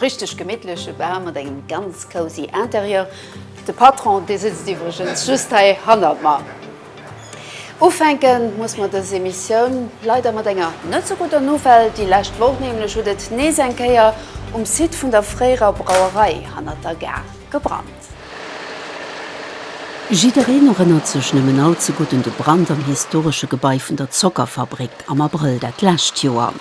Richteg gemittleche Bar mat engem ganz cozy Interieur. De Patron, dee sëtzt iwwregens just hei hannert mer. Ufänke muss mer dës Emissioun leider mat enger net sou gudder Nouvelle. Déi lescht Woch nämlech huet et nees eng Kéier um Site vun der fréierer Brauerei hannert der Gare gebrannt. Jiddereen erënnert sech nëmmen all ze gutt un de Brand am historesche Gebai vun der Zockerfabrik am Abrëll dat lescht Joer.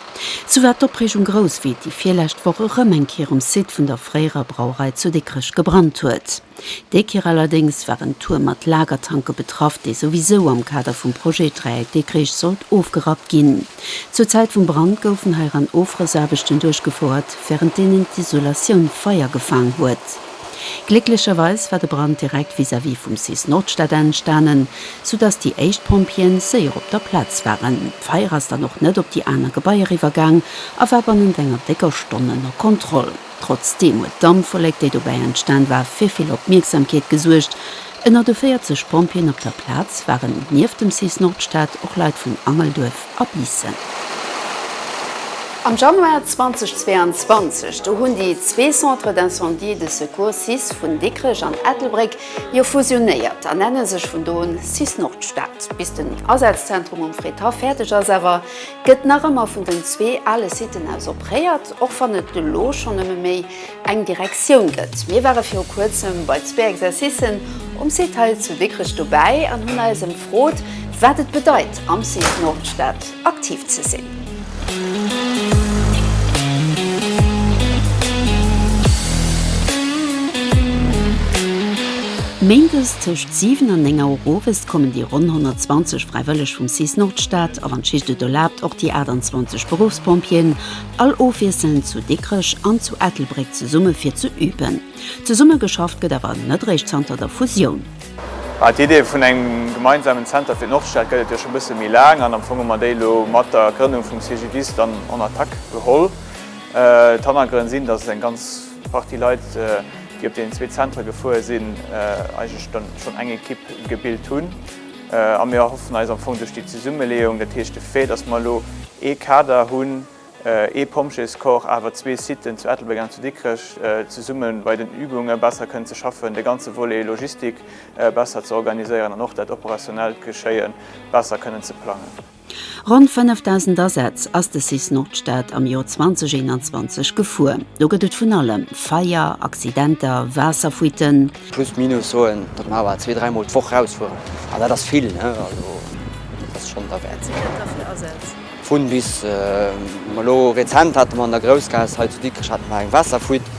Sou war d'Opreegung grouss, wéi et déi virlescht Woch erëm eng Kéier um Site vun der fréierer Brauerei zu Dikrech gebrannt huet. Déi Kéier allerdéngs war en Tuerm mat Lagertanke betraff, dee souwisou am Kader vum Projet Dräieck Dikrich sollt ofgerappt ginn. Zur Zäit vum Brand goufen heiran Ofrëssaarbechten duerchgefouert, wärend deenen d'Isolatioun Feier gefaang huet. Glécklecherweis war de Brand direkt vis-à-vis vum cis Nordstad enstanen, sou dass déi éischt Pompjeeën séier op der Plaz waren. D'Feier ass dann och net op déi aner Gebaier iwwergaang a war bannent enger décker Stonn ënner Kontroll. Trotzdeem huet d'Dampwollek, déi dobäi entstan war, fir vill Opmierksamkeet gesuergt. Ënner de 40 Pompjeeën op der Plaz waren nieft dem cis Nordstad och Leit vun Angelduerf a Biissen. Am Januar 2022, do hunn déi zwee Centres d'incendie et de secours cis vun Dikrech an Ettelbréck jo fusionéiert a nenne sech vun do un cis Nordstad. Bis den Asazentrum um Frétard fäerdeg ass awer, gëtt nach ëmmer vun den zwee ale Siten aus opréiert, och wann et elo schonn nëmme méi eng Direktioun gëtt. Mir ware viru kuerzem bei zwee Exercicen um Site hei zu Dikrech dobäi an hunn eis ëmfrot, wat et bedeit, am Site Nordstad aktiv ze sinn. Méindes tëscht 7 an 9 Auer owes kommen déi ronn 120 Fräiwëlleg vum cis Nordstad a wann d'Schicht et erlaabt, och déi 28 Beruffspompjeeën, All ofwiesselnd zu Dikrech an zu Ettelbréck zesumme fir ze üben. Zesumme geschafft gëtt awer net réischt zanter der Fusioun. Mä d'Idee vun engem gemeinsamen Zenter fir d'Nordstad gëtt et jo scho bësse méi laang an am Fong hu mer déi elo mat der Grënnung vum CGDIS dann en Attack geholl. D'Hannergrënn sinn, dass eng ganz Partie Leit, déi op deenen zwee Zentere gefuer sinn, eigentlech dann schonn eng Ekipp gebilt hunn. A mir erhoffen eis am Fong duerch déi Zesummeleeung, dat heescht de Fait, datt mer elo ee Kader hunn, ee Pompjeescorps, awer zwee Siten, zu Ettelbréck an zu Dikrech, zesumme bei den Übunge besser kënnen ze schaffen, de ganze Volet Logistik besser ze organiséieren an och dat operationellt Geschéie besser kënnen ze plangen. Ronn 5.000 Asätz ass de cis Nordstad am Joer 2021 gefuer. Do gëtt et vun allem, Feier, Accidenter, Waasserfuiten. Plus minus soen, datt mer awer zwee, dräi Mol d'Woch rausfueren. An dat ass vill, also dat ass schonn derwäert. Wat da fir Asätz? Vun bis. Mä elo rezent hate mer an der Groussgaass hei zu Dikrech hate mer eng Waasserfuite.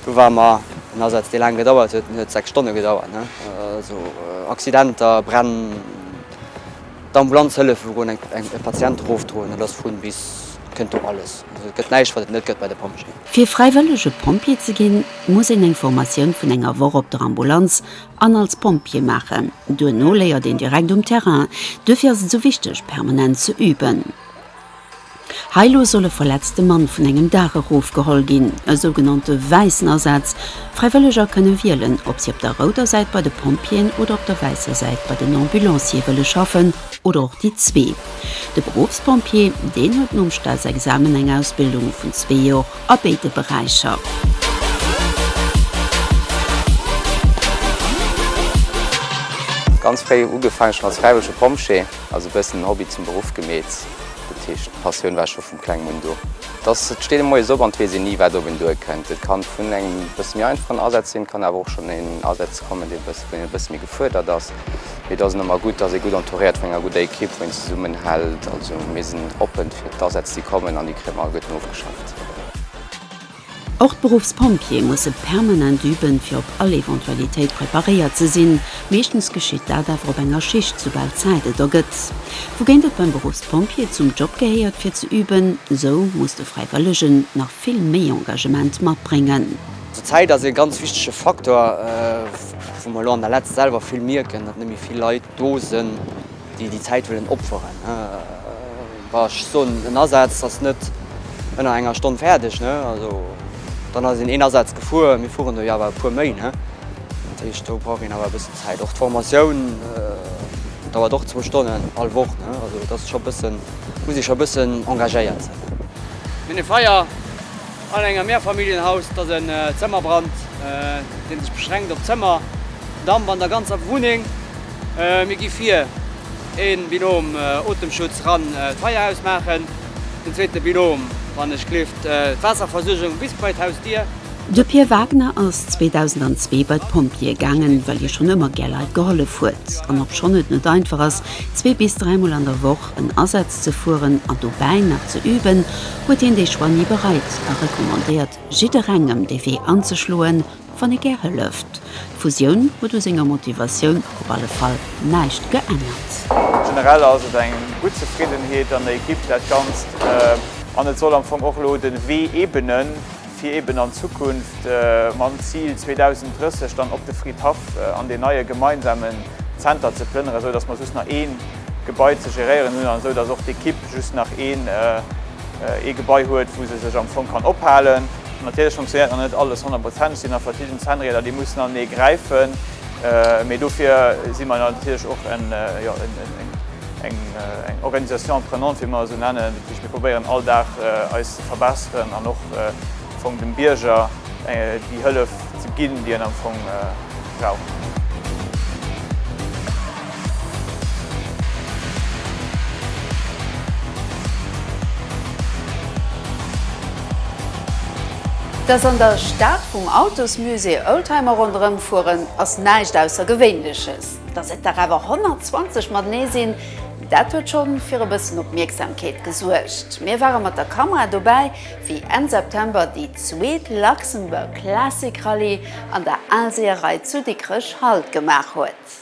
Do ware mer en Asaz, dee laang gedauert huet, en huet sechs Stonne gedauert. Also Accidenter, Bränn. D'Ambulanz hëllef wou en e Patient erofdroen, et ass vun bis, et kënnt do alles. Also et gëtt näischt wat et net gëtt bei de Pompjeeën. Fir fräiwëllege Pompjee ze ginn, muss een eng Formatioun vun enger Woch op der Ambulanz an als Pompjee maachen. Duerno léiert een direkt um Terrain. Duerfir ass et sou wichteg permanent ze üben. Hei lo soll e verletzte Mann vun engem Daach erof geholl ginn. E sougenannte wäissen Asaz. Fräiwëlleger kënne wielen, ob si op der rouder Säit bei de Pompjeeën oder op der wäisser Säit bei den Ambulanciere wëlle schaffen, oder och déi zwee. De Beruffspompjee, deen huet nom Staatsexamen eng Ausbildung vun zwee Jor a béide Beräicher. Ganz fréi ugefaangen, schonn als fräiwëllege Pompjee, also e bëssen en Hobby zum Beruff gemeet. Dat heescht, d'Passioun war scho vum Klengen un do. Et ass, et steet ee moies op an et weess een ni, wat op een duerkënnt. Et kann vun engem e bësse méi einfachen Asaz sinn, et kann awer och schonn een Asaz kommen, dee bësse, wou een e bësse méi gefuerdert ass. Mee et ass ëmmer gutt, ass ee gutt entouréiert vun enger gudder Ekipp, wou een zesummenhält. Also mir sinn oppen fir d'Asätz, déi kommen an déi kréie mer gutt nofgeschafft. Och d'Beruffspompjee musse permanent üben, fir op all Eventualitéit preparéiert ze sinn. Meeschtens geschitt dat awer op enger Schicht, soubal Zäit et ergëtt. Wougéint et beim Beruffspompjee zum Job gehéiert, fir ze üben, sou muss de Fräiwëllegen nach vill méi Engagement matbréngen. D'Zäit ass e ganz wichtege Faktor, wou mer elo an der Letz selwer vill mierken, datt net méi vill Leit do sënn. déi déi Zäit wëllen opferen, wa ech soen en Asaz ass net ënner enger Stonn fäerdeg, also dann ass een een Asaz gefuer, mir fueren do jo awer e puer méi, dat heescht do brauch een awer e bëssen Zäit. Och d'Formatioun dauert och zwou Stonnen all Woch, also et ass scho bëssen, muss ee scho bëssen engagéiert sinn. Mir hunn e Feier. An engem Mehrfamilienhaus ass en Zëmmerbrand, dee sech beschränkt op Zëmmer, Damp an der ganzer Wunneng. Mir gi vir, ee Binom Otemschutz, ran d'Feier ausmaachen, den zweete Binom, wann ech gleeft, d'Waasserversuergung bis bei d'Hausdier. De Pir Wagner ass 2002 bei d'Pompjeeë gaangen, well hie schonn ëmmer gär Leit gehollef huet. An obschonn et net einfach ass, zwee bis dräimol an der Woch en Asaz ze fueren an dobäi nach ze üben, huet hien dee Choix ni bereit a recommandéiert jidderengem dee Wee anzeschloen, wann ee gär hëlleft. D'Fusioun huet u senger Motivatioun op alle Fall näischt geännert. Generell ass et eng gutt Zefriddenheet an der Ekipp, dat Ganzt. An et soll am Fong och elo de Wee ebenen. fir eben an Zukunft mam Zil 2030 dann op de Fridhaff an deen neie gemeinsamen Zenter ze plënneren, esou datt mer just nach ee Gebai ze geréieren hunn an esou datt och d'Ekipp just nach ee Gebai huet, wou se sech am Fong kann ophalen. Natierlech funktionéiert nach net alles honnertprozenteg, sinn nach verschidden Zänreder, déi mussen an ee gräifen, mee dofir si mer natierlech och en. Eng Organisation apprenante, wéi mer se nennen, dat heescht mir probéieren all Dag eis ze verbesseren an och am Fong dem Bierger déi Hëllef ze ginn, déi en am Fong brauch. Dass an der Stad vum Autosmusée Oldtimer ronderëm fueren, ass näischt Aussergewéinleches. Dass et der awer 120 matenee sinn, dat huet scho fir e bëssen Opmierksamkeet gesuergt. Mir ware mat der Kamera dobäi, wéi Enn September déi zweet Luxembourg Classic Rallye an der Aalseeërei zu Dikrech Halt gemaach huet.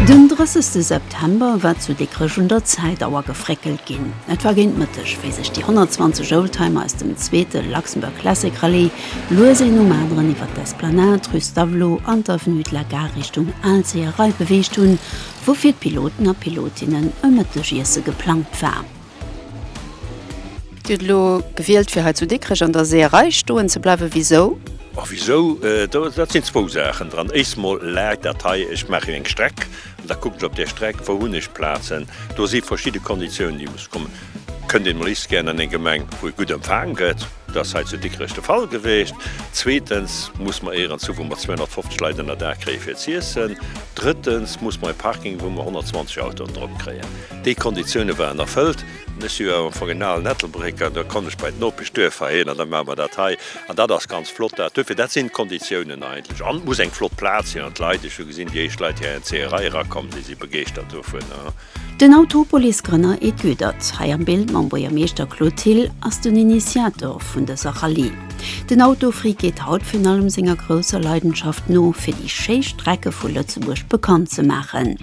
Den 30 September war zu Dikrech un der Zäitauer gefréckelt ginn. Et war géint Mëtteg, wéi sech déi 120 Oldtimer aus dem zweete Luxembourg Classic Rallye Lues een um aneren iwwert d'Esplanade, rue Stavelot an d'Avenue de la Gare Richtung Alzeeërei beweegt hunn, wou fir d'Piloten a Pilotinnen e Mëttegiesse geplangt war. Dir hutt elo gewielt fir hei zu Dikrech an der Seeërei stoen ze bleiwen. Wisou? A wisou? Dat sinn zwou Saachen dran. Éischst mol läit dat hei, ech maachen eng Streck an da kuckt ech op där Streck, wou hunn ech Plazen. Do si verschidde Konditiounen déi musse kommen. Kënnt een liefst gären an eng Gemeng, wou ee gutt empfaangen gëtt. Dat ass hei zu Dikrech de Fall gewiescht. Zweetens muss mer Eeër an Zu, wou mer 250 Leit ënner Dag kréien, fir z'iessen. Drëttens muss mer e Parking, wou mer 120 Autoen drop kréien. Déi Konditioune waren erfëllt. Ech si jo am Fong en alen Ettelbrécker, da konnt ech bei d'Nopeschduerfer hin an da maache mer dat hei. An dat ass ganz flott dat. Duerfir, dat sinn d'Konditiounen eigentlech. An et muss eng flott Plaz sinn an d'Leit, ech hu gesinn, déi éischt Leit, déi hei an d'Zéierei erakomm sinn, si begeeschtert dovunner. Den Autopolis-Grënner Ed Goedert, hei am Bild mam Buergermeeschter Claude Thill, ass den Initiator vun dëser Rallye. Den Autofreak geet haut virun allem senger grousser Leidenschaft no, fir déi schéi Strecke vu Lëtzebuerg bekannt ze maachen.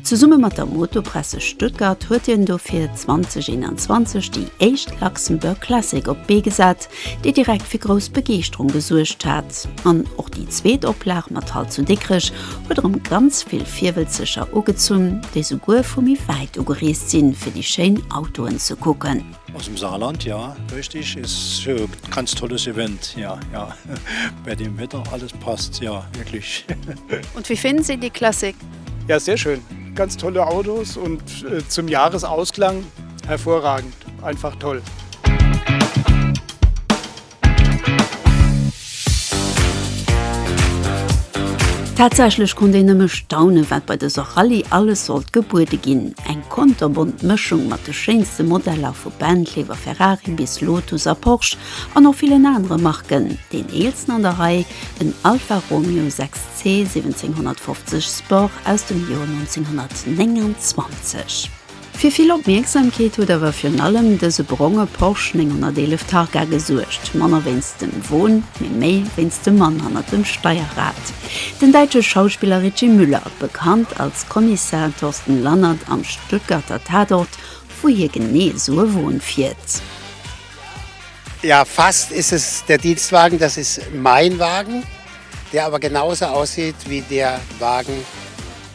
Zesumme mat der Motopresse Stuttgart huet hien dofir 2021 déi éischt Luxembourg Classic op d'Bee gesat, déi direkt fir grouss Begeeschterung gesuergt hat. An och déi zweet Oplag mat Halt zu Dikrech huet erëm ganz vill Virwëlzeger ugezunn, déi souguer vu méi wäit ugereest sinn, fir déi schéin Autoen ze kucken. Aus dem Saarland, ja richtig, ist hier ganz tolles Event, ja, ja, bei dem Wetter alles passt, ja wirklich. Und wie finden Sie die Klassik? Ja, sehr schön, ganz tolle Autos und zum Jahresausklang hervorragend, einfach toll. Tatsächlech konnt een nëmme staunen, wat bei dëser Rallye alles sollt gebuede ginn. Eng konterbont Mëschung mat de schéinste Modeller, vu Bentley iwwer Ferrari bis Lotus a Porsche an och villen anere Marken. Deen eelsten an der Rei, den Alfa Romeo 6 C 1750 Sport aus dem Joer 1929. Fir vill Opmierksamkeet huet awer virun allem dëse bronge Porsche 911 Targa gesuergt, manner wéinst dem Won, mee méi wéinst dem Mann hannert dem Steierrad, den däitsche Schauspiller Ritchie Müller, bekannt als Kommissar Thorsten Lannert am Stuttgarter Tatort, wou hie genee esou e Won fiert. Ja, fast ist es der Dienstwagen, das ist mein Wagen, der aber genauso aussieht wie der Wagen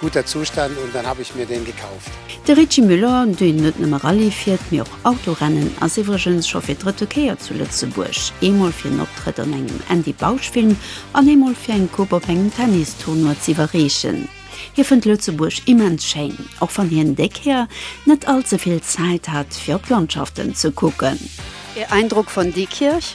Guter Zustand und dann hab ich mir den gekauft. De Richie Müller, deen net nëmme Rallye fiert, mee och Autorennen, ass iwwregens scho fir d'drëtte Kéier zu Lëtzebuerg. Eemol fir en Optrëtt an engem Andy Bausch-Film an eemol fir eng Coupe op engem Tennis-Tournoi z'iwwerreechen. Hie fënnt Lëtzebuerg immens schéin, och wann hien déi Kéier net all ze vill Zäit hat, fir op d'Landschaften ze kucken. Är Eindrock von Diekirch?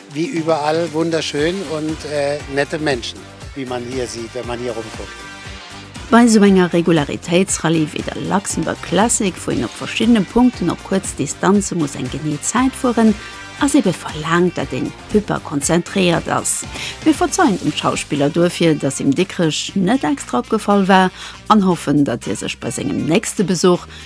Wie überall wunderschön und nette Menschen, wie man hier sieht, wenn man hier rumguckt. Bei esou enger Regularitéitsrallye wéi der Luxembourg Classic, wou een op verschiddene Punkten op kuerz Distanze muss eng genee Zäit fueren, ass ebe verlaangt, datt een hyperkonzentréiert ass. Mir verzeien dem Schauspiller duerfir, datt him Dikrech net extra opgefall war an hoffen, datt hie sech bei sengem nächste Besuch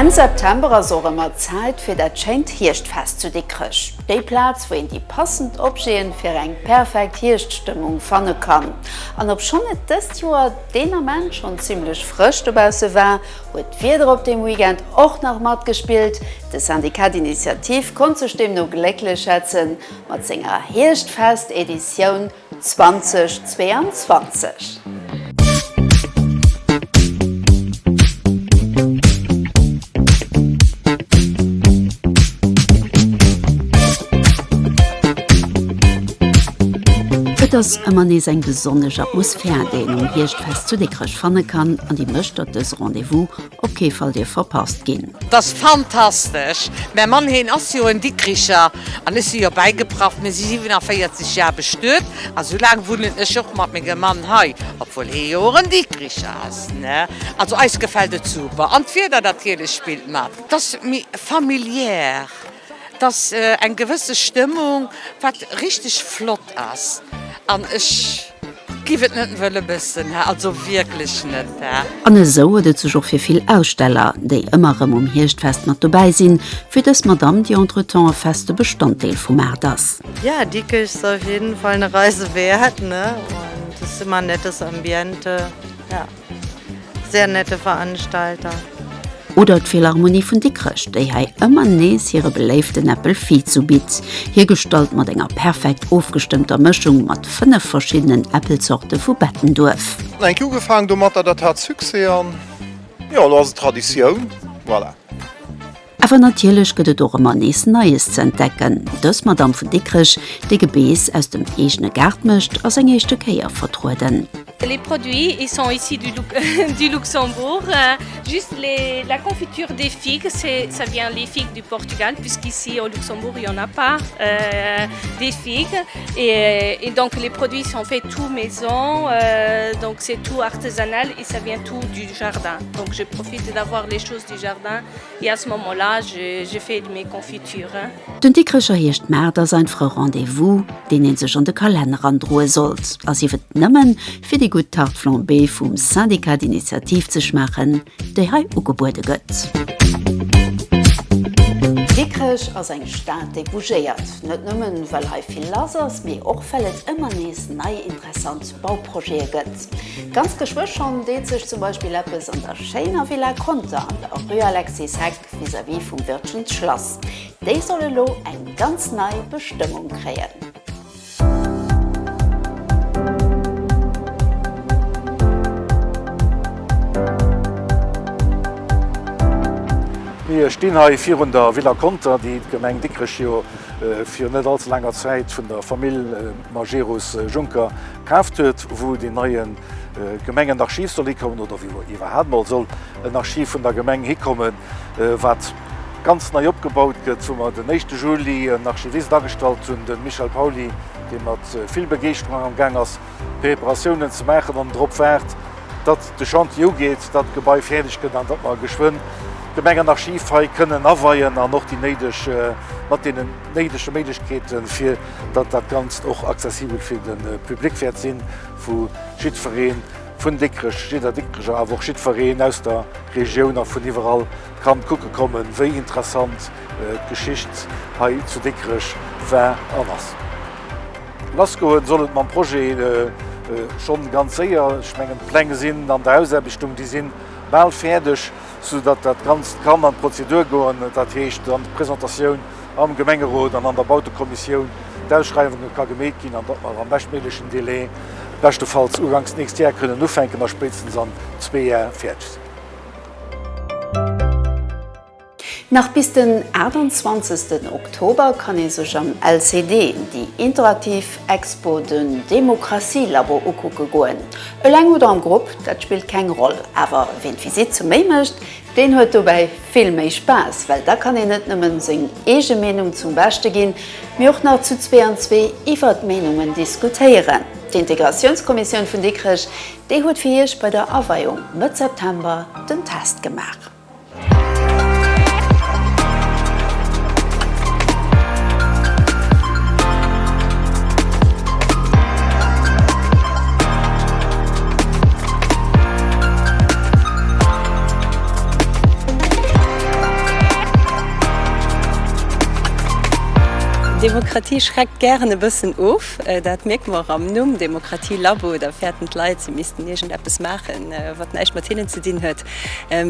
Enn September ass och ëmmer Zäit fir dat schéint Hierschtfest zu Dikrech. Déi Plaz, wou een déi passend Objeten fir eng perfekt Hierschtstëmmung fanne kann. An obschonn et dëst Joer deen Ament schonn zimmlech frësch dobausse war, huet d'Wieder op deem Weekend och nach matgespillt. De Syndicat d'Initiative konnt sech deemno glécklech schätzen mat senger Hierschtfest-Editioun. 2022. Et ass ëmmer nees eng besonnesch Atmosphär, déi een um Hierschtfest zu Dikrech fanne kann an déi mécht, datt dës Rendez-vous, Op kee Fall dierf verpasst ginn! T'ass fantastesch! Mäi Mann heen ass jo en Dikricher an ech si jo bäigepraff. Mir si 47 Jar bestuet a sou laang wunnen ech och mat mengem Mann hei, obwuel hee jo och en Dikricher ass ne. Also eis gefällt et super an d'Wieder natierlech spillt mat. T'ass méi familiär. Et ass eng gewësse Stëmmung, wat richteg flott ass an ech giff et net wëlle mëssen, also wierklech net. An esou huet et sech och fir vill Aussteller, déi ëmmer erëm um Hierschtfest mat dobäi sinn, fir dës Madamm, déi entretemps e feste Bestanddeel vum Maart ass. Ja, Dikrech ass op jidden Fall eng Reise wäert, ne? An dës Humanittesambiente, ja. Sehr nette Veranstalter. Oder d'Philharmonie vun Dikrech, déi hei ëmmer nees hire beléiften Apple Fizu bitt, hiergestallt mat enger perfekt ofgestëmmter Mëschung mat 5 verschiddenen Äppelzorte vu Bettenduerf. Hunn enk ugefaang domatter, dat hat Succès an jo, elo ass et Traditioun. Voilà. Awer natierlech gëtt et och ëmmer nees Neies ze entdecken. Dës Madamm vun Dikrech, déi Gebeess aus dem eegene Gaart mécht, ass eng éischte Kéier vertrueden. Les produits ils sont ici du du Luxembourg juste les la confiture des figues c'est ça vient les figues du Portugal puisqu'ici au Luxembourg il y en a pas des figues et et donc les produits sont faits tout maison donc c'est tout artesanal et ça vient tout du jardin donc je profite d'avoir les choses du jardin. Et à ce moment là je fais de mes confitures. Den Dikrecher heescht Maart a sein Frou Rendez-vous, deen een sech an de Kalenner androe sollt, a sief et nëmmen fir déi gutt Tarte flambée vum Syndicat d'Initiative ze schmaachen, déi hei ugebuede gëtt. Dikrech ass eng Stad, déi bougéiert, net nëmmen well hei vill lass ass, mee och well et ëmmer nees nei Interessant Bauprojete gëtt. Ganz geschwë schonn deet sech zum Beispill eppes an der schéiner Villa Conter an der Rue Alexis Heck vis-à-vis vum Wirtgen Schlass. Déi soll elo eng ganz nei Bestëmmung kréien. Mir stinn hei virun der Villa Conter, déi d'Gemeng Dikrech jo fir net allze laanger Zäit vun der Famill. Majerus Juncker kaaft huet, wou deen neie Gemengenarchiv soll hikommen oder wou iwwerhaapt mol soll en Archiv vun der Gemeng hikommen, wat ganz nei opgebaut gëtt, wou mer den éischte Juli en Archivist agestallt hunn, de Michel Pauly, dee mat vill Begeeschterung amgaang ass, Preparatiounen ze maachen an drop waart, datt de Chantier ugeet, datt d'Gebai fäerdeg gëtt an datt mer geschwënn d'Gemengenarchiv hei kënnen aweien an och déi néideg, mat deenen néidege Méiglechkeete fir. datt dat Ganzt och accessibel fir de Public wäert sinn, wou jiddferee vun Dikrech, jidder Dikrecher, awer och jiddfereen aus der Regioun a vun iwwerall kann kucke kommen, wéi interessant d'Geschicht hei zu Dikrech war an ass. Lassgoen soll et mam Projet schonn ganz séier. Ech mengen, d'Pläng sinn an der Ausaarbechtung, déi sinn bal fäerdeg, soudatt dat Ganzt kann an d'Prozedur goen, dat heescht an d'Presentatioun am Gemengerot an an der Bautekommissioun d'Ausschreiwunge ka gemeet ginn an datt mer am beschtméiglechen Délai, beschtefalls uganks d'nächst Jar, kënnen ufänken a spéitstens an zwee Jar fäerdeg sinn. Nach bis den 28 Oktober kann ee sech am LCD déi interaktiv Expo Den Demokratie-Labo ukucke goen. Eleng oder am Grupp, dat spillt keng Roll, awer ween d'Visitt zu Méi mécht, Deen huet dobäi vill méi Spaass, well da kann een net nëmmen seng eege Meenung zum Beschte ginn, mee och nach zu zwee an zwee iwwert d'Meenungen diskutéieren. D'Integratiounskommissioun vun Dikrech, déi huet fir Iech bei der Aweiung Mëtt September den Test gemaach. Demokratie schreckt gären e bëssen of. Dat mierke mer och am Numm, Demokratie Labo. Da fäerten d'Leit, si missten iergendeppes maachen, wat näischt mat hinnen ze dinn huet.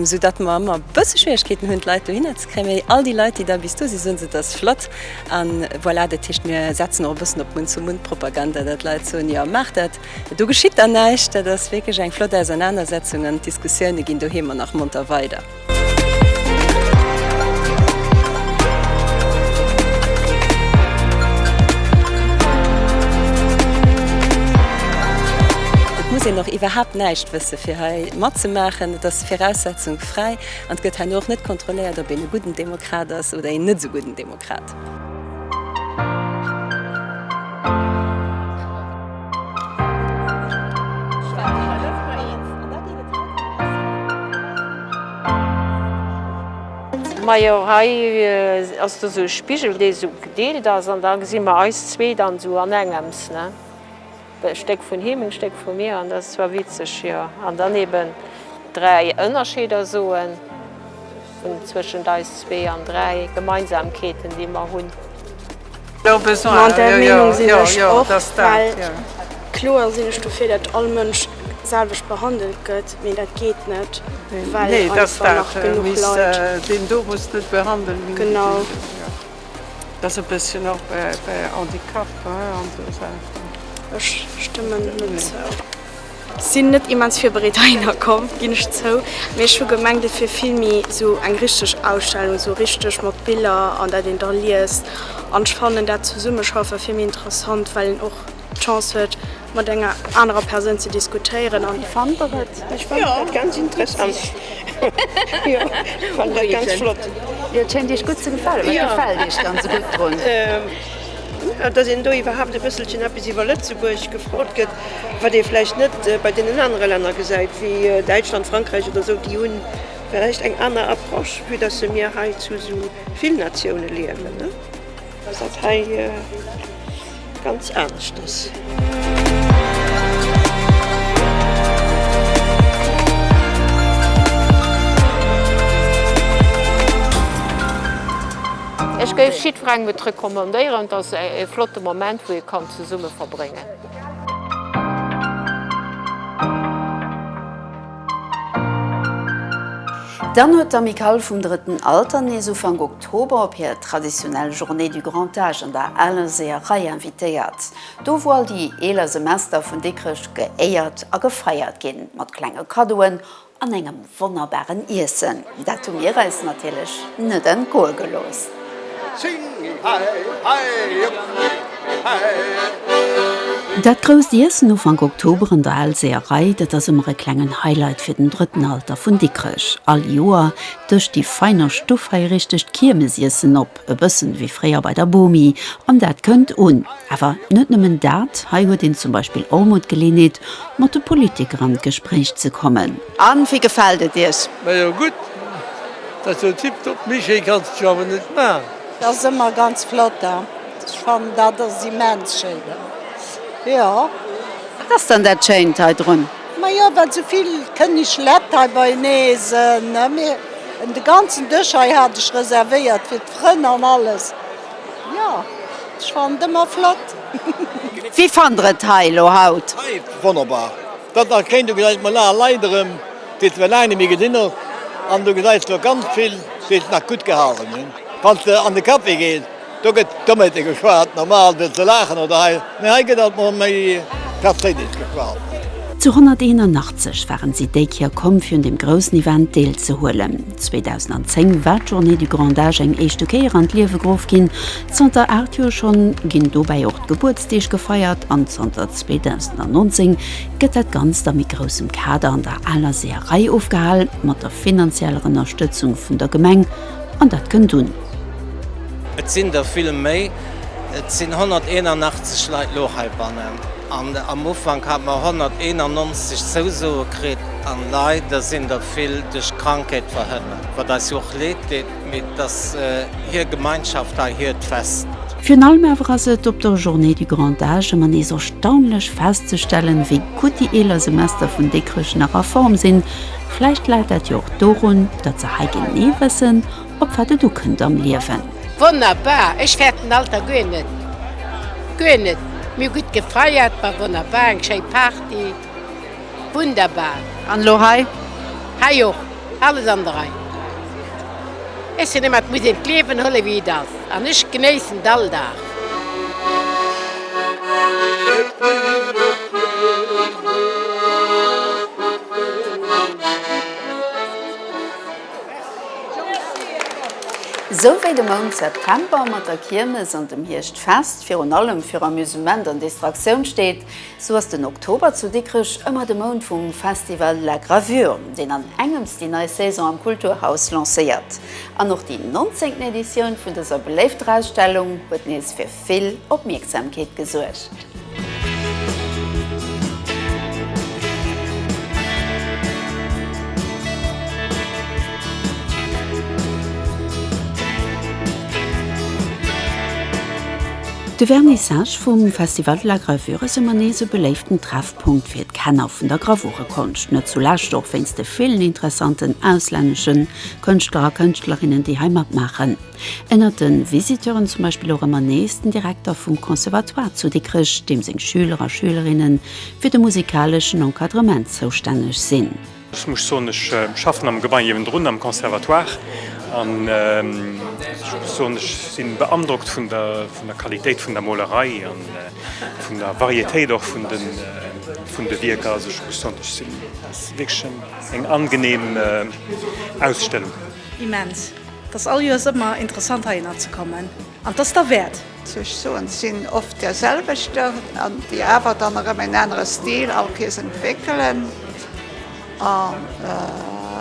Soudatt mer ëmmer e bësse Schwieregkeeten hunn, d'Leit dohinner ze kréien. Mee all déi Leit, déi da bis do sinn, soen se, et ass flott. A voilà, dat heescht, mir setzen och e bëssen op Munn-zu-Munn-Propaganda, datt d'Leit soen, jo, maacht dat. Do geschitt dann näischt. Dat ass wierklech eng flott Ausernanersetzung an d'Diskussioune ginn doheem nach monter weider. Et muss een och iwwerhaapt näischt wësse fir hei matzemaachen. Et ass viraussetzungsfräi an et gëtt herno och net kontrolléiert, ob een e gudden Demokrat ass oder een net esou gudden Demokrat. Krat. Majo hei ass do sou e Spigel dee sou gedeelt ass an da gesi mer eis zwee dann sou an engems ne. E Stéck vun him, en Stéck vu mir, an dat ass zwar witzeg, jo. An dann eben dräi Ënnerscheeder soen vun zwëschent eis zwee an dräi Gemeinsamkeeten, déi mer hunn. Mat där Meenung sinn ech och, well kloer sinn ech dofir, datt all Mënsch d'selwecht behandelt gëtt, mee dat geet net, well einfach nach genuch Leit. Genau. Ass e bësschen och bei Handicap an esou Saachen. Ech stëmmen net zou. Sinn net immens virbereet heihinner komm, ginn ech zou, mee ech hu gemengt et wier vill méi esou eng richteg Ausstellung, esou richteg mat Biller an dat een da liest. An ech fannen dat Zesummeschaffe vill méi interessant, well een och d'Chance huet, mat enger anerer Persoun ze diskutéieren an fannt der et ech fannt dat ganz interessant jo fannt dat ganz flott jo et schéngt iech gutt ze gefalen wat gefält iech dann esou gutt drun? datt een do iwwerhaapt e bësselchen eppes iwwer Lëtzebuerg gefrot gëtt wat ee vläicht net bei deenen anere Länner gesäit wéi Däitschland, Frankräich oder esou déi hu vläicht eng aner Approche vue datt se mir hei zu esou vill Natioune liewen ne. Well dat hei ganz anescht ass. Ech géif jiddwerengem et recommandéieren. Et ass e flotte Moment, wou ee kann zesumme verbréngen. Dann huet d'Amicale vum drëtten Alter nees Ufank. D'Hober op hir traditionell Journée du Grand Âge an der Aler Seeërei invitéiert. Do wou all déi eeler Semester vun Dikrech geéiert a gefeiert ginn, mat klenge Kaddoen an engem wonnerbaren Iessen, dat hu mir eis natierlech net entgoe gelooss. Dat grousst Iessen Ufank Oktober an der Al Seeërei, dat ass ëmmer e klengen Highlight fir den drëtten Alter vun Dikrech. All Joer Dëscht déi feiner Stuff hei richteg d'Kiermesiessen op, e bëssen ewéi fréier bei der Bomi, an dat kënnt un. Awer net nëmmen dat, hei huet een zum Beispill och mol d'Geleeënheet mat de Politiker an d'Gespréich ze kommen. An wéi gefällt et iech? Majo gudd, dat ass jo tiptop, méi schéi kanns de jo awer net maan. Dat ass ëmmer ganz flott da. Ech fannen dat ass immens schéi da, jo. Wat ass dann dat schéint hei drun? Majo well souvill kënneg Lett hei beinee sen, mee de ganzen Dësch hei hat ech reservéiert fir d'Frënn an alles. Jo ech fannen et ëmmer flott. Wéi fannt der et hei elo haut? Wonnerbar, dat nach kéint. Du gesäis mol aner Leit erëm, déi se laang net méi gesinn hunn, an du gesäis do ganz vill, déi sech nach gutt gehalen hunn, wann s de an de Café gees. Do gëtt Dommete geschwat, normal fir ze laachen oder hei, mee hei gëtt alt mol méi Perséinlecht geschwat. Zu 181 waren si déi Kéier komm fir un dem groussen Event deel ze huelen. 2010 war d'Journée du Grand Âge eng éischte Kéier an d'Liewe geruff ginn. Zanter 8 Joer schonn ginn dobäi och d'Gebuertsdeeg gefeiert an zanter 2019 gëtt dat Ganzt a méi groussem Kader an der aler Seeërei ofgehal, mat der finanzieller Ënnerstëtzung vun der Gemeng. An dat kënnt un. Et sinn der vill méi. Et sinn 181 Leit elo heibannen an am Ufank hat mer 191 Zousoe kritt. An leider sinn der vill duerch Krankheet verhënnert, wat eis jo och Leed deet, mee et ass hir Gemeinschaft hei, hiert Fest. Virun allem awer ass et op der Journée du Grand Âge ëmmer nees erstaunlech festzestellen, wéi gutt déi eeler Semester vun Dikrech nach a Form sinn. Vläicht läit dat jo och dorun, datt se hei genee wëssen, op wat et ukënnt am Liewen. Wonnerbar! Ech fäert den Alter guer net, guer net. Mir hu gutt gefeiert, war wonnerbar, eng schéi Party, wunderbar. An elo hei? Hei och, alles an der Rei. Ech soen ëmmer, et muss een d'Liewen huelen, wéi et ass, an ech genéissen all Dag. Sou wéi de Mount September mat der Kiermes an dem Hierschtfest virun allem fir Amusement an Distraktioun steet, sou ass den Oktober zu Dikrech ëmmer de Mount vum Festival La Gravure, deen an engems déi nei Saison am Kulturhaus lancéiert. An och déi 19. Editioun vun dëser beléifter Ausstellung huet nees fir Vill Opmierksamkeet gesuergt. De Vernissage vum Festival de la Gravure ass ëmmer nees e beléiften Treffpunkt fir d'Kenner vun der Gravurekonscht, net zulescht och wéinst de villen interessanten auslänneschen Kënschtler a Kënschtlerinnen, déi hei matmaachen. Ënnert de Visiteuren zum Beispill och ëmmer nees den Direkter vum Conservatoire zu Dikrech, deem seng Schüler a Schülerinne fir de musikaleschen Encadrement zoustänneg sinn. Ech muss soen, ech schaffen am Gebai niewendrun am Conservatoire an ech muss soen, ech si beandrockt vun der Qualitéit vun der Molerei a vun der Varietéit och vun de Wierker. Also ech muss soen, ech si, dat ass wierklech eng angenehm Ausstellung. Immens! T'ass all Joers ëmmer interessant heihinner ze kommen an t'ass derwäert! Sech soen, t'sinn oft där selwechter an déi awer dann erëm en anere Stil all Kees entwéckelen an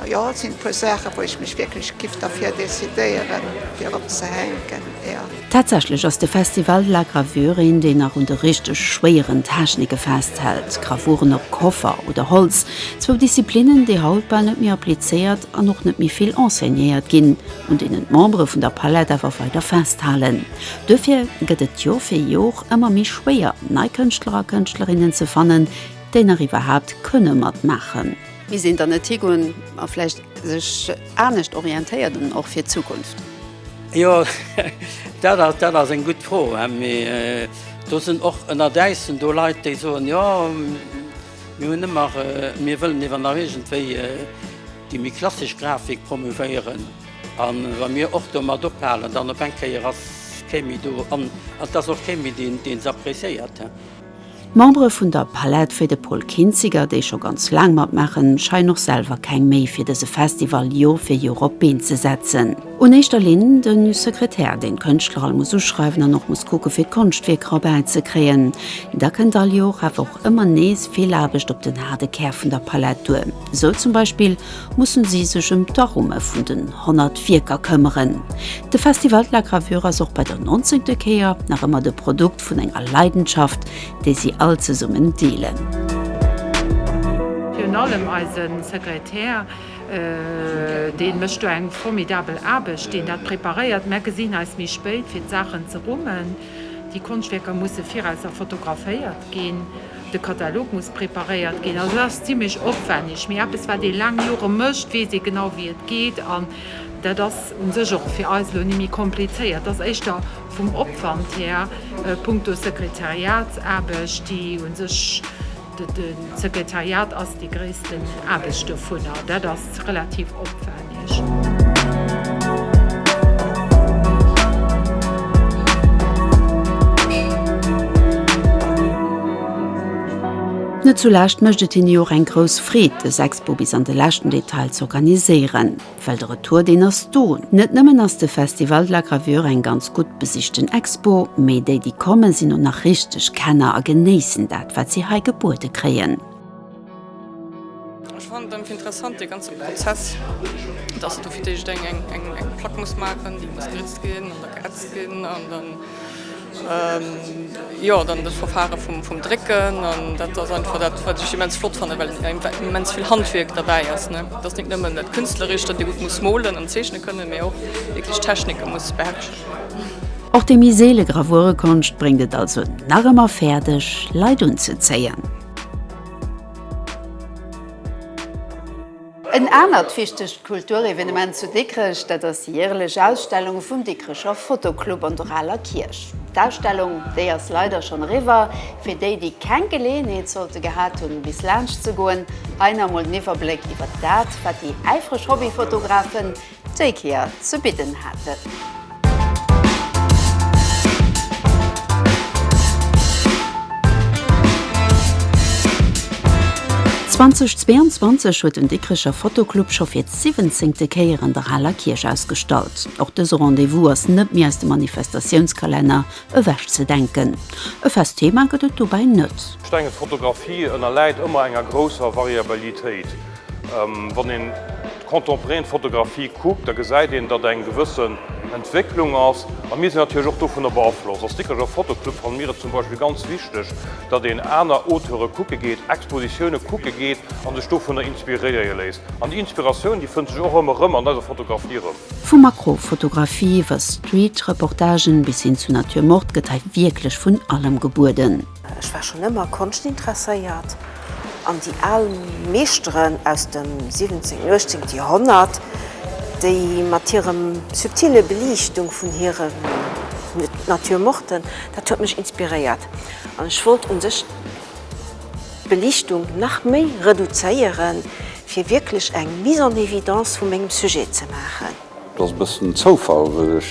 jo, et sinn e puer Saachen, wou ech mech wierklech giff derfir decidéieren fir opzehänken. Tatsächlech ass de Festival de la Gravure een, deen nach un de richteg schwéieren Technike festhält, Gravuren op Koffer oder Holz, zwou Disziplinnen, déi haut bal net méi applizéiert an och net méi vill enseignéiert ginn, un deenen d'Membere vun der Palette awer weider festhalen. Duerfir gëtt et Jor fir Jor ëmmer méi schwéier, nei Kënschtler a Kënschtlerinnen ze fannen, déi nach iwwerhaapt kënne matmaachen. Misst een dann net higoen a vläicht sech anescht orientéieren, och fir d'Zukunft? Jo dat ass dat ass eng gutt Fro. Do sinn och ënner Däissen do Leit, déi soen, jo mir hunn ëmmer mir wëllen iwwer nach iergendwéi déi méi klassesch Grafik promouvéieren. A wa mir och do mat ophalen, dann op eng Kéier ass kee méi do an ass och kee méi deen deen se appreciéiert. D'Membere vun der Palette, wéi de Paul Kinziger, déi scho ganz laang matmaachen, scheien och selwer keng Méi fir dëse Festival Jor fir Jor op d'Been ze setzen. Un éischter Linn de Sekretär, deen d'Kënschtler all muss uschreiwen an och muss kucke fir d'Konschtwierker erbäi ze kréien. Da kënnt all Jor awer och ëmmer nees vill Aarbecht op den haarde Kär vun der Palette duer. Esou zum Beispill mussen si sech ëm d'Arumme vun den 100 Wierker këmmeren. De Festival de la Gravure ass och bei der nonzéngte Kéier nach ëmmer de Produkt, Vun enger Leidenschaft, déi si all zesummen deelen. Virun allem eise Sekretär, dee mécht do eng formidabel Aarbecht, deen dat preparéiert. Mär gesinn eis méi spéit, fir d'Saachen ze rummen. Déi Konschtwierker musse viraus erfotograféiert ginn, de Katalog muss preparéiert ginn. Also, dat ass zimmlech opwänneg. Mee eppes, wat ee laang Jore mécht, weess ee genau, wéi et geet. An dat ass u sech och fir eis elo ni méi komplizéiert. Et ass éischter Vum Opwand här, punkto Sekretariatsaarbecht, déi u sech, de Sekretariat ass déi gréissten Aarbecht dovunner, dat ass relativ opwänneg. Net zulescht mécht et hinne jo och eng grouss Freed, dës Expo bis an de leschten Detail z'organiséieren. Well de Retour deen ass do. Net nëmmen ass de Festival de la Gravure eng ganz gutt besichten Expo, mee déi déi kommen sinn och nach richteg Kenner a genéissen dat wat si hei gebuede kréien. Ech fannen et einfach interessant dee ganze Prozess, dass du fir d'éischt eng Plack muss maachen, déi muss geritzt ginn an da geätzt ginn an dann, Jo, dann dat Verfare vum Drécken an dat ass einfach dat, wat ech immens flott fannen, well immens vill Handwierk derbäi ass. Et ass net nëmmen dat Künstlerescht, datt ee gutt muss molen an zeechne kënnen, mee och wierklech d'Technike muss beherrschen. Och déi méi seele Gravurekonscht bréngt et also nach ëmmer fäerdeg, Leit unzezéien. En anert wichtegt Kulturevenement zu Dikrech, dat ass déi järelech Ausstellung vum Dikrecher Fotoclub an der aler Kierch. D'Ausstellung, déi ass leider schonn eriwwer. Fir déi, déi keng Geleeënheet sollte gehat hunn, bis laanscht ze goen, hei nach emol den Iwwerbléck iwwert dat, wat déi äifreg Hobbyfotografen, déi Kéier ze bidden haten. Zwanzeg 22 huet den Dikrecher Fotoclub scho fir d'siwwenzéngte Kéier an der Aler Kierch ausgestallt. Och dëse Rendez-vous ass net méi aus dem Manifestatiounskalenner ewech ze denken. E fest Thema gëtt et dobäi net. Stenges Fotografie ënnerläit ëmmer enger grousser Variabilitéit. Wann een d'contemporain Fotografie kuckt, da gesäit een, datt eng gewëssen Entwécklung ass. A mir sinn natierlech och dovunner beaflosst. Als Dikrecher Fotoclub fanne mir et zum Beispill ganz wichteg, datt een aner Auteure kucke geet, Expositioune kucke geet a sech dovunner inspiréie léisst. An déi Inspiratioun, déi fënnt sech och ëmmer erëm an eiser Fotografie erëm. Vu Makrofotografie iwwer Street-Reportagen bis hin zu Nature morte gëtt hei wierklech vun allem gebueden. Ech war schonn ëmmer Konschtintresséiert an déi al Meeschteren aus dem 17 an 18 Joerhonnert, déi mat hirem subtile Beliichtung vun hiren Naturmorten, dat huet mech inspiréiert an ech wollt u sech d'Beliichtung nach méi reduzéieren, fir wierklech eng Mise en évidence vu mengem Sujet ze maachen. Et ass e bëssen Zoufall, well ech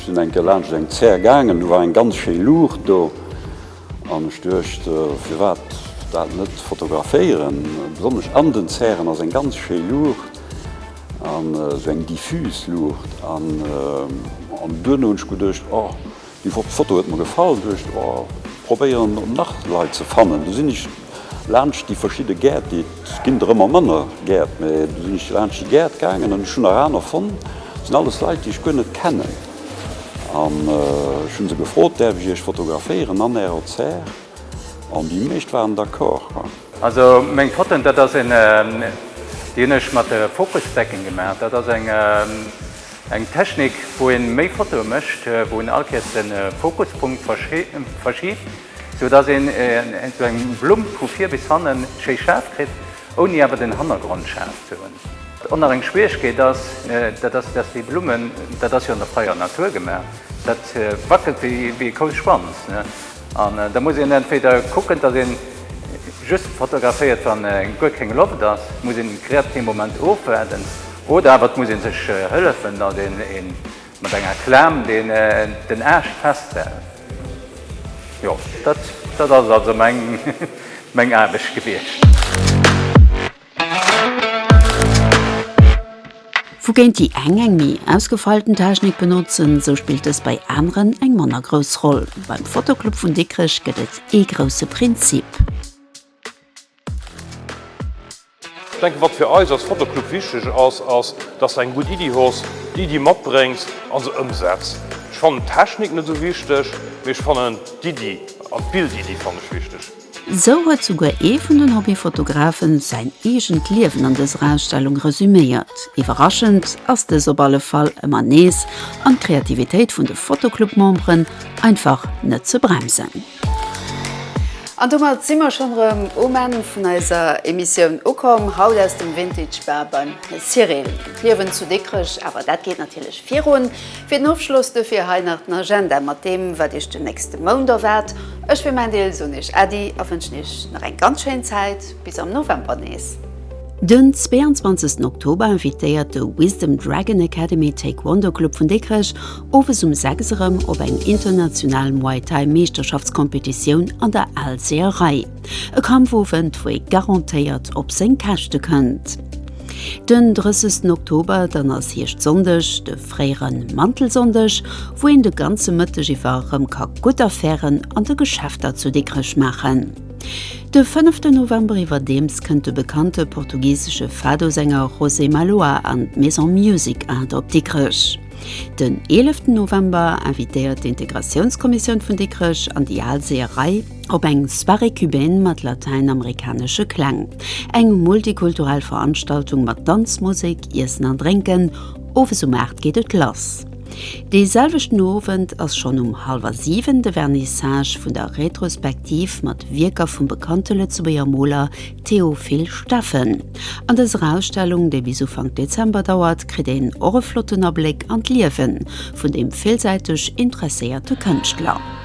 sinn eng Kéier laanscht eng Zär gaangen, do war eng ganz schéi Luucht do an ech duecht, firwat dat net fotograféieren. Besonnesch an den Zären ass eng ganz schéi Luucht an esou eng diffus Luucht an duerno hunn ech geduecht, oh, Di Foto huet mer gefall, duecht oh probéieren op nach Leit ze fannen. Du sinn ech laanscht di verschidde Gäert, di et ginn der ëmmer manner Gäert, mä du sinn ech laanscht di Gäert gaangen an ech hunn nach aner fonnt. Et sinn alles Leit di ech guer net kennen an ech hunn se gefrot, däerf ech iech fotograféieren an ärer Zär? An di meescht waren d'accord. Also meng Fotoen, dat ass een, déi hunn ech mat Focusdecken gemaach, dat ass eng. Eng Technik wou een méi Fotoen mécht, wou een all Kéiers den Fokuspunkt verschiebt, sou dass een sou eng Blumm vu vir bis hannen schéi schaarf kritt, ouni awer den Hannergrond schaarf ze hunn. Och nach eng Schwierigkeet ass, dat ass dass déi Blummen, dat ass jo an der freier Natur gemaach, dat wackelt wéi e Kouschwanz. An da muss een entweder kucken, dass een just fotograféiert wann guer keng Loft ass, muss een den kreativen Moment ofwaarden, oder awer et muss een sech hëllefen dass een een mat enger Klaam deen den Aascht festhält. Jo dat ass also meng Aarbecht gewiescht. Wougéint déi eng eng méi ausgefeilten Technik benotzen, sou spillt dës bei aneren eng manner grouss Roll. Beim Fotoclub vun Dikrech gëtt et ee grousse Prinzip. Ech denken, wat fir eis als Fotoclub wichteg ass, ass, dass s de eng gutt Iddi hues, déi Iddi matbréngs a se ëmsetz. Ech fannen d'Technik net esou wichteg, mee ech fannen d'Iddi an d'Bildiddi fannen ech wichteg. Sou huet souguer ee vun den Hobbyfotografen säin eegent Liewen an dëser Ausstellung resüméiert. Iwwerraschend ass dës op alle Fall ëmmer nees an d'Kreativitéit vun de Fotoclub-Memberen einfach net ze bremsen. An domat si mer schonn erëm um Enn vun eiser Emissioun ukomm, haut aus dem Vintage Bar beim Cyril. D'Liewen zu Dikrech, awer dat geet natierlech virun. Fir den Ofschloss dofir hei nach den Agenda mat deem, wat Iech den nächste Mount erwaart. Ech fir mäin Deel soen Iech Äddi a wënschen Iech nach eng ganz schéin Zäit. Bis am November nees. Den 22 Oktober invitéiert de Wisdom Dragon Academy Taekwondo Club vun Dikrech owes um 6 erëm op eng international Muay Thai Meeschterschaftscompetitioun an der Alzeer Rei. E Kampfowend, wou ee garantéiert op seng Käschte kënnt. Den 30 Oktober, dann ass Hierscht-Sonndeg, de fréiere Mantelsonndeg, wou een de ganze Mëtteg iwwer erëm ka gutt Affären an de Geschäfter zu Dikrech maachen. De fënneften November iwwerdeems kënnt de bekannte portugisesche Fado-Sänger José Malhoa an d'Maison Music Art op Dikrech. Den eeleften November invitéiert d'Integratiounskommissioun vun Dikrech an déi al Seeërei. op eng Soirée cubaine mat latäinamerikanesche Kläng, eng multikulturell Veranstaltung mat Danz, Musek, Iessen an Drénken. Owes um 8 geet et lass. Dee selwechten Owend ass schonn um hallwer 7 de Vernissage vun der Retrospektiv mat Wierker vum bekannte Lëtzebuerger Moler Théophile Steffen. An dëser Ausstellung, déi bis Ufank Dezember dauert, kritt een och e flotten Abléck an d'Liewe vun deem villsäiteg interesséierte Kënschtler.